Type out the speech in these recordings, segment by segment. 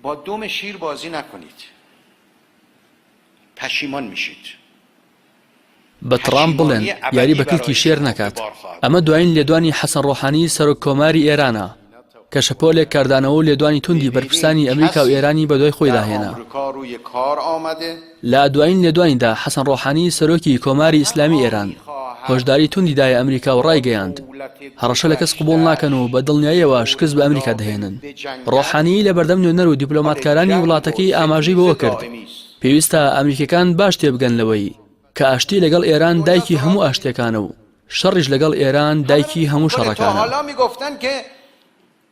با دم شیر بازی نکنید پشیمان میشید. بە تڕامپ بڵێن یاری بە کلکی شێر نەکات ئەمە دوایین لێدوانی حەسەن ڕۆحانی سەرۆک کۆماری ئێرانە کە شەپۆلێک کاردانەوە و لێدوانی توندی بەرپرسانی ئەمریکا و ئێرانی بەدوای خۆیدا هێنا. لە دوایین لێدوانیدا حەسەن ڕۆحانی سەرۆکی کۆماری ئیسلامی ئێران هۆشداری توندی دایە ئەمریکا و ڕایگەیاند، هەڕەشە لە کەس قبوڵ ناکەن و بە دڵنیاییەوە شکست بە ئەمریکا دەهێنن. ڕۆحانی لە بەردەم نوێنەر و دیپلۆماتکارانی وڵاتەکەی ئاماژەی بەوە کرد، پێویستە ئەمریکییەکان باش تێبگەن لەوەی کە ئاشتی لەگەڵ ئێران دایکی هەموو ئاشتییەکانە و شەڕیش لەگەڵ ئێران دایکی هەموو شەڕەکانە.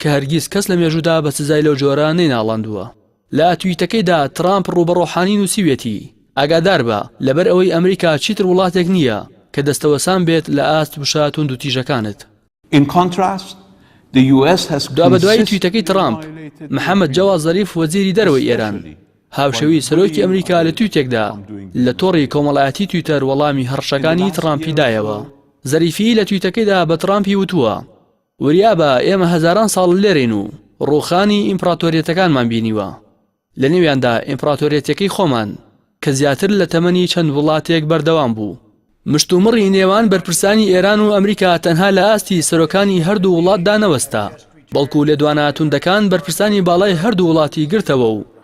کە هەرگیز کەس لە مێژوودا بە سزای لەو جۆرە نەیناڵاندووە. لە تویتەکەیدا ترامپ ڕوو بە ڕۆحانی نووسیویەتی، ئاگاداربە، لەبەر ئەوەی ئەمریکا چیتر وڵاتێک نییە کە دەستەوەسان بێت لە ئاست وشە توندوتیژەکانت. دوابەدوای تویتەکەی ترامپ، محەمەد جەواد زەریف وەزیری دەرەوەی ئێران، هاوشێوەی سەرۆکی ئەمریکا لە تویتێکدا لە تۆڕی کۆمەڵایەتی تویتەر وەڵامی هەڕەشەکانی ترامپی دایەوە. زەریفی لە تویتەکەیدا بە ترامپی وتووە، وریا بە، ئێمە هەزاران ساڵ لێرەین و ڕووخانی ئیمپڕاتۆریەتەکانمان بینیوە، لەنێویاندا ئیمپڕاتۆریەتیەکەی خۆمان کە زیاتر لە تەمەنی چەند وڵاتێک بەردەوام بوو. مشتومڕی نێوان بەرپرسانی ئێران و ئەمریکا تەنها لە ئاستی سەرۆکانی هەردوو وڵاتدا نەوەستا، بەڵکو لێدوانە توندەکان بەرپرسانی باڵای هەردوو وڵاتی گرتەوە و،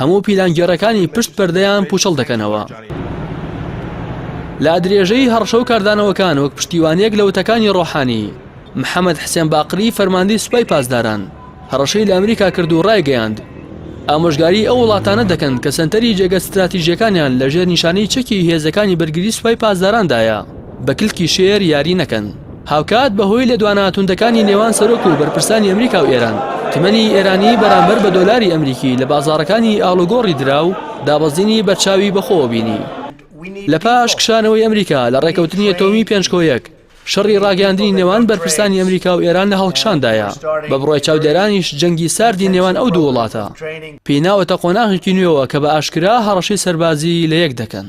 هەموو پیلانگێڕەکانی پشت پەردەیان پوچەڵ دەکەنەوە. لە درێژەی هەڕشە و کاردانەوەکان وەک پشتیوانیەک لە وتەکانی ڕۆحانی، محەمەد حسێن باقری فەرماندەی سوپای پاسداران هەڕەشەی لە ئەمریکا کرد و ڕایگەیاند، ئامۆژگاری ئەو وڵاتانە دەکەن کە سەنتەری جێگە ستراتیژیەکانیان لە ژێر نیشانەی چەکی هێزەکانی بەرگری سوپای پاسداراندایە. بە کلکی شێر یاری نەکەن. هاوکات بەهۆی لێدوانە توندەکانی نێوان سەرۆک و بەرپرسانی ئەمریکا و ئێران، تمەنی ئێرانی بەرامبەر بە دۆلاری ئەمریکی لە بازاڕەکانی ئاڵوگۆڕی درا و دابەزینی بەرچاوی بەخۆوە بینی. لە پاش کشانەوەی ئەمریکا لە ڕێککەوتنی ئەتۆمی پێنج کۆ یەک، شەڕی ڕاگەیاندنی نێوان بەرپرسانی ئەمریکا و ئێران لە هەڵکشاندایە، بە بڕای چاودێرانیش جەنگی ساردی نێوان ئەو دوو وڵاتە پێی ناوەتە قۆناغێکی نوێوە کە بە ئاشکرا هەڕەشەی سەربازی لە یەک دەکەن.